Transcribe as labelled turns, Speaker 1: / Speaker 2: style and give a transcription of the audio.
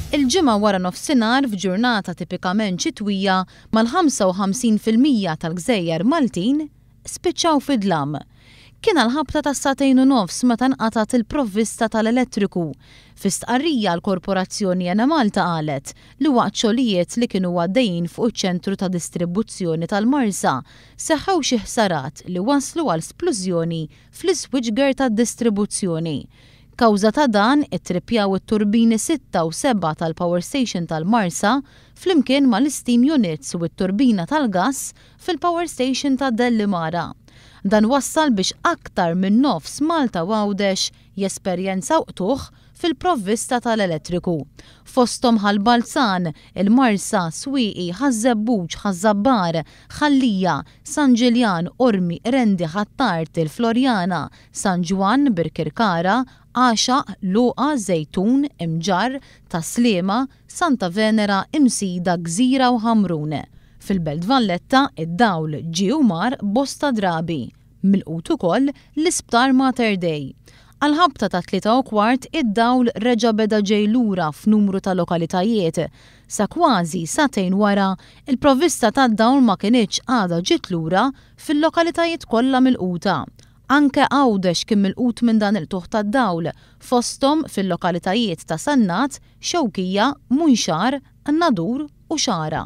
Speaker 1: Il-Ġimgħa wara nofsinhar f'ġurnata tipikament xitwija mal-55 fil-mija tal-gżejjer Maltin spiċċaw fid-dlam. Kien għal ħabta ta' sagħtejn u nofs meta nqatgħet il-provvista tal-elettriku. Fi stqarrija l-korporazzjoni Enemalta qalet li waqt xogħlijiet li kienu għaddejjin fuq iċ-ċentru ta' distribbuzzjoni tal-Marsa seħħew xi ħsarat li wasslu għal splużjoni fl-iswiċger tad-distribuzzjoni. Kawża ta' dan, ittrippjaw it-turbini sitta u sebgħa tal-Power Station tal-Marsa, flimkien mal-isteam units u t-turbina tal-gass fil-Power Station ta' Dellimara. Dan wassal biex aktar minn nofs Malta u Għawdex jesperjenzaw qtugħ fil-provvista tal-elettriku, fosthom Ħal Balzan, il-Marsa, Swieqi, Ħaż-Żebbuġ, Ħaż-Żabbar, Ħal-Lija, San Ġiljan, Qormi, Qrendi, Ħ'Attard, il-Floriana, San Ġwann, Birkirkara, Għaxaq, Luqa, Żejtun, Imġarr, Tas-Sliema, Santa Venera, Imsida, Gżira u Ħamrun. Fil-Belt Valletta, id-dawl ġie u mar bosta drabi. Milqut ukoll l-Isptar Mater Dei. Għall-ħabta tat-tlieta u kwart id-dawl reġa' beda ġej lura f'numru ta' lokalitajiet. Sa kważi sagħtejn wara, il-provvista tad-dawl ma kinitx għadha ġiet lura fil-lokalitajiet kollha milquta. Anke Għawdex kien milqut minn dan il-qtugħ tad-dawl, fosthom fil-lokalitajiet ta' Sannat, Xewkija, Munxar, Qnadur u Xagħra.